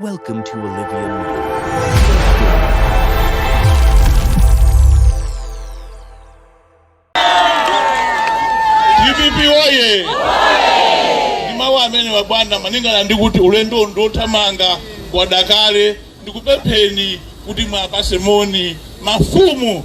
Welcome to Olivia Media. DPP oye! Ndi mawu amenewa bwana malingana ndi kuti ulendo ndi wothamanga kwadakale ndikupempheni kuti mwapase moni mafumu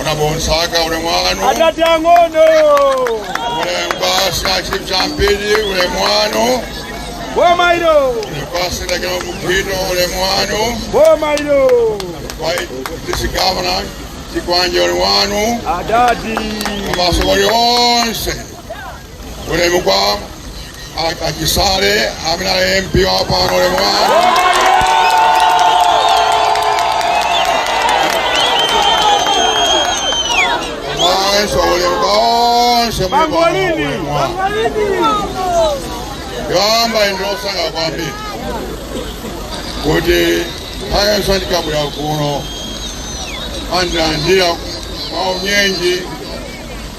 Ona bonsaka ule mwanu. Adati ang'ono. Ule mbasa chipchampidi ule mwanu. Boma ilo. Ule basa ndakino mukino ule mwanu. Boma ilo. Kwa disi governor chikwanje ule mwanu. Adati. Mabasa wali onse. ulemu kwa a- a Chisale amene ali mp wa pano ulemu wanu mayi Ansah ulemu kwa onse muli pano, ulemu wanu. yamba ndine osangalala kwambiri kuti nthawi yonse ndikabwera kuno andilandira mwaunyinji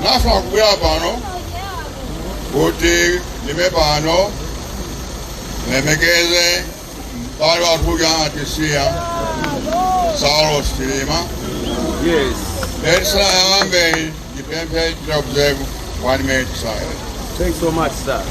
Ndafuna kubwera pano kuti ndime pano ndilemekeze m'bale wathu uja anatisiya Saulos Chilima. Yes. Ndisanayambe ndipemphe tichite observe one minute silence. Thanks so much, sir.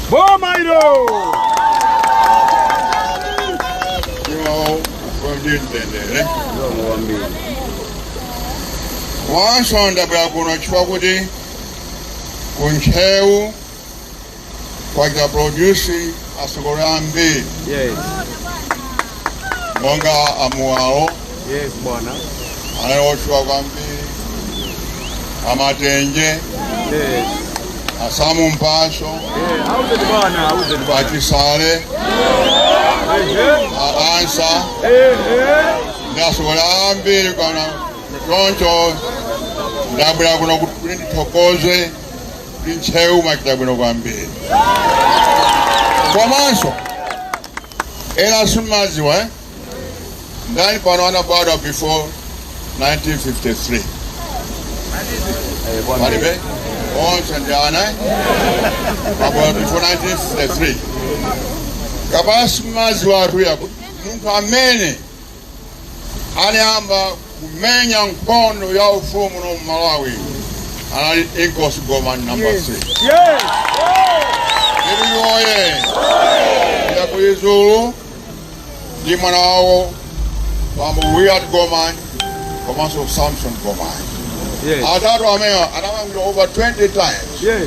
Boma ilo! komanso ndabwera kuno chifukwa kuti ku Ntcheu kwachita produce atsogoleri ambiri Yes. monga a Muwalo Yes, bwana. anali otchuka kwambiri a Matenje Yes. a Sam Mpasu Eh, auzeni bwana, auzeni bwana. a Chisale Eh, a Ansah eh. Eh, eh. ndi atsogoleri ambiri kana choncho ndabwera kuno kuti ndithokoze kuti Ntcheu mwachita bwino kwambiri komanso ena simumadziwa eh? ndani pano anabadwa before 1953 palibe onse ndi ana eh? abadwa before 1953 kapena simumadziwatu yakuti munthu amene anayamba kumenya nkhondo ya ufulu muno Malawi anali Inkosi Gomani number 3 Iluyu oye ya ku Lizulu ndi mwana wawo bambo Willard Gomani komanso Samson Gomani atatu amenewa anamangidwa over 20 times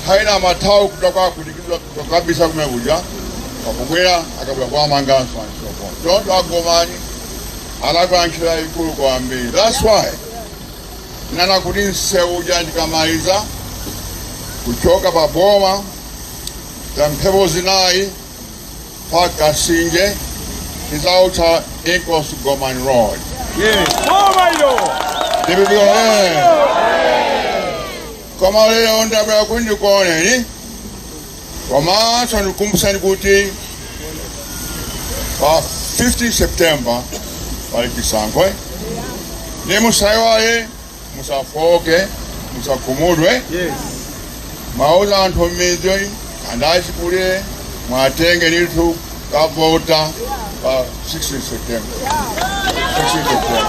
haina mathawi kutoka kulikizwa Kukabisa kumene kuja pakubwera akabwera kuwamanganso and so forth choncho a Gomani anagwira ntchito yayikulu kwambiri. That's why ndanena kuti msewu uja ndikamaliza kuchoka pa boma za mphepo zinayi pa Kasinje tizautcha Inkosi Gomani Road. Ndipo eh, Koma lero ndabwera kuti ndikuoneni komanso ndikukumbutseni kuti pa 15 September pali chisankho ndiye musaiwale musafoke musakhumudwe muwauze anthu m'midzi and achikulire muwatenge ndithu kukavota pa 16 september 16 september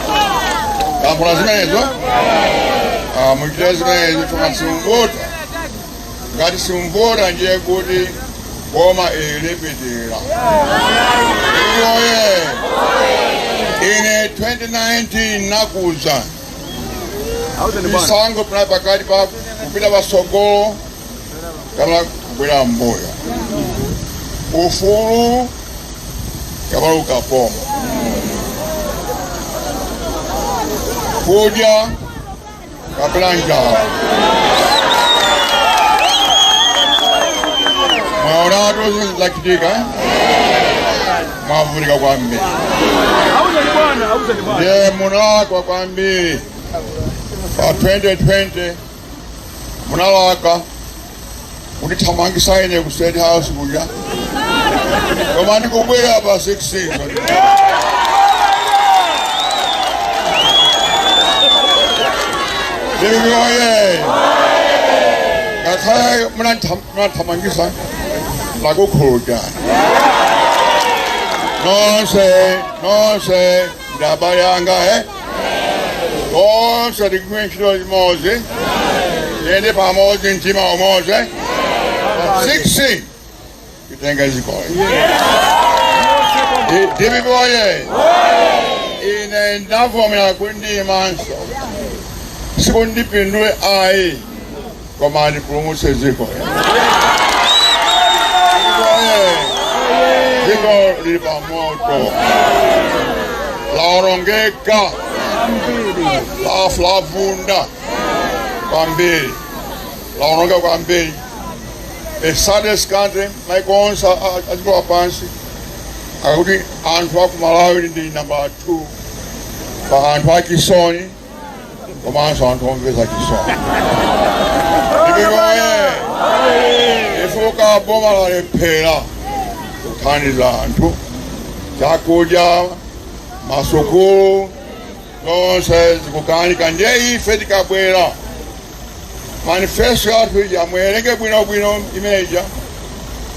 ndikufuna zimenezo Ah, muchite zimenezo chifukwa simuvota ngati simuvota ndiye kuti boma ili lipitirira oye ine 2019 ndinakuuzani chisankho chinali pakati pa kupita pasogolo kapena kubwerera m'mbuyo ufulu kapena ukapolo kudya kapena njala mwaonatu zinthu zachitika mwavutika kwambiri ndiye munalakwa kwambiri pa 2020 munalakwa kundithamangisa ine ku state house kuja koma ndikubwera pa 16 DPP oye ngakhale munandithamangisa ndakukhululukirani nonse nonse ndi abale anga e onse tigwire ntchito limodzi tiyende pamodzi mtima umodzi pa 16 titenge dziko ili DPP oye ine ndavomera kuti ndiimenso sikuti ndipindule ayi koma ndipulumutse dziko dziko lili pa moto laonongeka lafa lavunda kwambiri laonongeka kwambiri the saddest country maiko onse adziko lapansi akuti anthu aku malawi ndi nambala 2 pa anthu achisoni komanso anthu omvesa chisoni DPP woye chifukwa boma lalephera kuthandiza anthu chakudya masukulu zonse zikukanika ndiye ife tikabwera manifesto yathu ija muwerenge bwinobwino imeja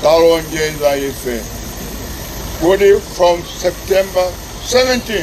talonjeza ife kuti from september 17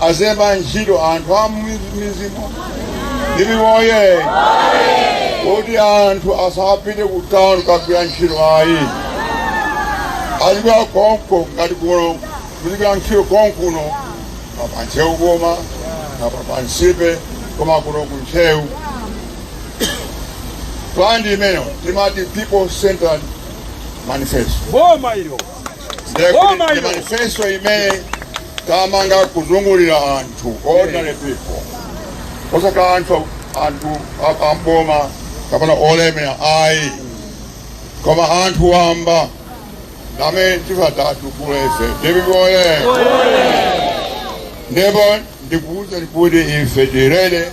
azalemba ntchito anthu a m'midzimo DPP woye kuti anthu asapite ku town kagwira ntchito ayi azigwira konko ngati kuno kuzigwira ntchito konkuno pa ntcheu boma pa nsipe koma kuno ku ntcheu plan imeneyo timati people centered manifesto boma ilo Boma ilo. manifesto imene tamanga kuzungulira anthu ordinary people osati anthu anthu a- a m'boma kapena olemera ayi koma anthu wamba amene tifuna titukule DPP woye ndipo ndikuwuzani kuti ife tirere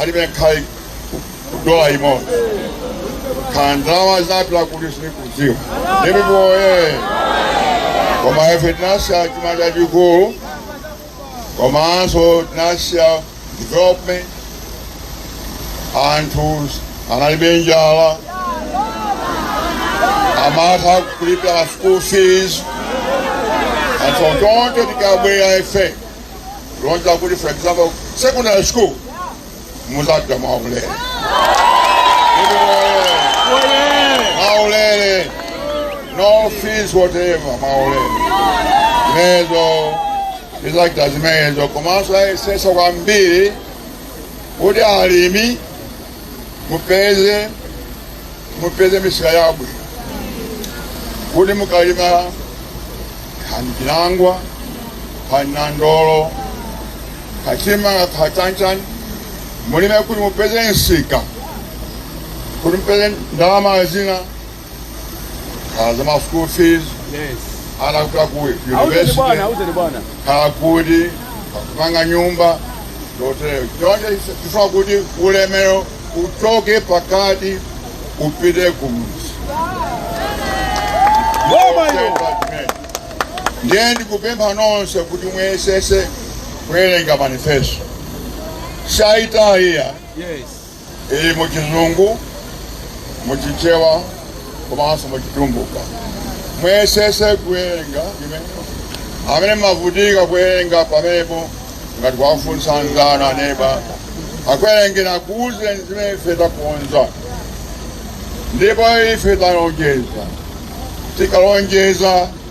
alibe kaya dola imodzi kaya ndalama zapita kuti sindikudziwa DPP woye koma ife tinasiya chuma chachikulu komanso tinasiya development anthu analibe njala amatha kulipira school fees anthu tonse tikabwera ife lonjeza kuti for example secondary school muzapita mwaulere mwaulere no fees whatever mwaulere zimenezo tizachita zimenezo komanso ayesesa kwambiri kuti alimi mupeze mupeze misika yabwino kuti mukalima kaya chinangwa kaya nandolo kaya chimanga kaya chanichani mulime kuti mupeze msika kuti mupeze ndalama zina kaya za ma school fees yes ana kuti akuwe university bwana auzeni bwana kaya kuti kupanga nyumba zotero choncho tifuna kuti ulemero uchoke pakati upite kumudzi boma ilo ndiye ndikupempha nonse kuti muyesese kuwerenga manifesto yathu ija yes ili mu Chizungu, mu Chichewa komanso mu Chitumbuka. Muyesese kuwerenga inu amene mumavutika kuwerenga pamenepo mungathe kuwafunsa anzanu aneba akuwerengereni akuuzeni zimene ife takonza ndipo ife talonjeza tikalonjeza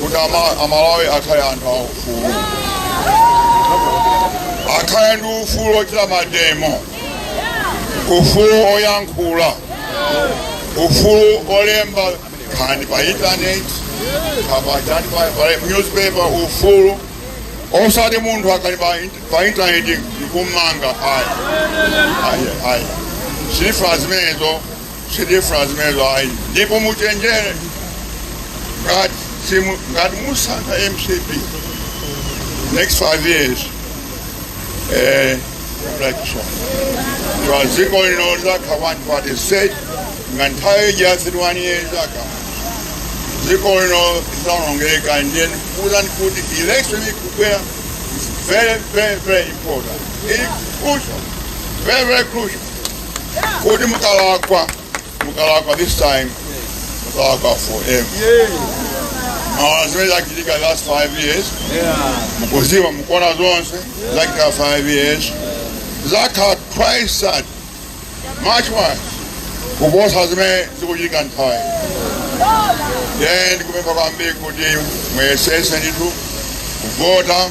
kuti ama- amalawi akhale anthu aufulu akhale ndi ufulu ochita mademo ufulu oyankhula ufulu olemba nkhani pa internet kapena pa pa newspaper ufulu osati munthu akali pa int- pa internet ndikummanga ayi ayi ayi sitifuna zimenezo sitifuna zimenezo ayi ndipo muchenjere ngati simu- ngati musankha mcp next five years eh, election dziko lino lizakhala one party state nga nthawi ija thirty one years aka dziko lino lizaonongeka ndiye ndikuuzani kuti election ikubwera is very very very important It's crucial very very crucial kuti mukalakwa mukalakwa this time mukalakwa forever maona zimene zachitika last five years mukuziwa mukuona zonse zachitika five years zizakhala twice as much worse kuposa zimene zikuchitika nthawi ino ndikupempha kwambiri kuti muyesese ndithu kuvota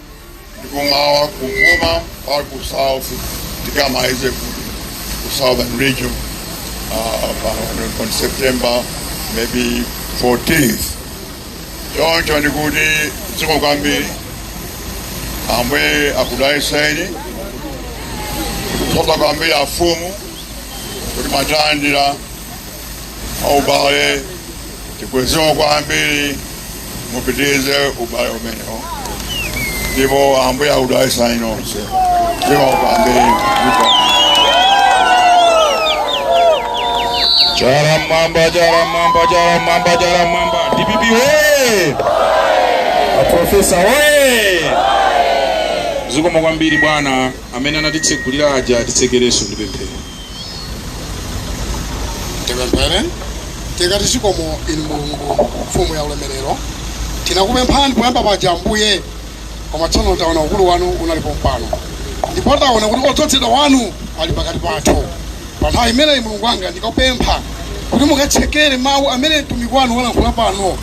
ndi kummawa kumvuma or ku south tikamalize ku ku southern region uh, pa- on september maybe 14th choncho ndikuti zikomo kwambiri ambuye akudaliseni kuthokoza kwambiri afumu kuti mwatilandira ubale Tikweze kwambiri mupitirize ubale umenewo ndipo ambuye akudalitseni nonse zikomo kwambiri ndipo chala mmwamba chala mmwamba chala mmwamba chala mmwamba dpp we aprofesa we zikomo kwambiri bwana amene anatitsegulira aja atitsekerenso ndi pemphero tipemphere tikati zikomo inu mulungu mfumu ya ulemerero tinakupemphani poyamba paja ambuye koma tsono taona ukulu wanu unali pompano ndipo taona kuti odzozedwa wanu ali pakati pathu pa nthawi imeneyi mulungu wanga ndikupempha kuti mukatsekere mawu amene mtumiki wanu walankhula pano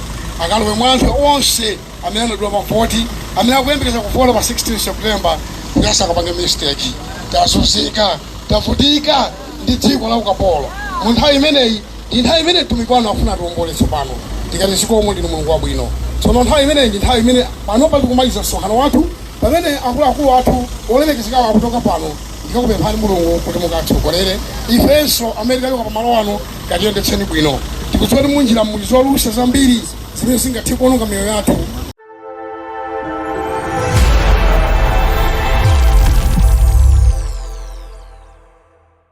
akalowe mwa anthu onse amene anadula mavoti amene akuyembekeza kuvota pa 16 september kuti asakapange mistake tazunzika tavutika ndi dziko la ukapolo mu nthawi imeneyi ndi nthawi imene mtumiki wanu afuna atiwombole tsopano tikati zikomo ndinu mulungu wabwino tsono nthawi imeneyi ndi nthawi imene panopa tikumaliza msonkhano wathu pamene akuluakulu athu olemekezekawo akuchoka pano ndikakupemphani mulungu kuti mukatitsogolere ifenso amene tikuchoka pamalo ano katiyendetseni bwino tikudziwa kuti munjira muli zolusa zambiri zimene zingathe kuononga miyoyo yathu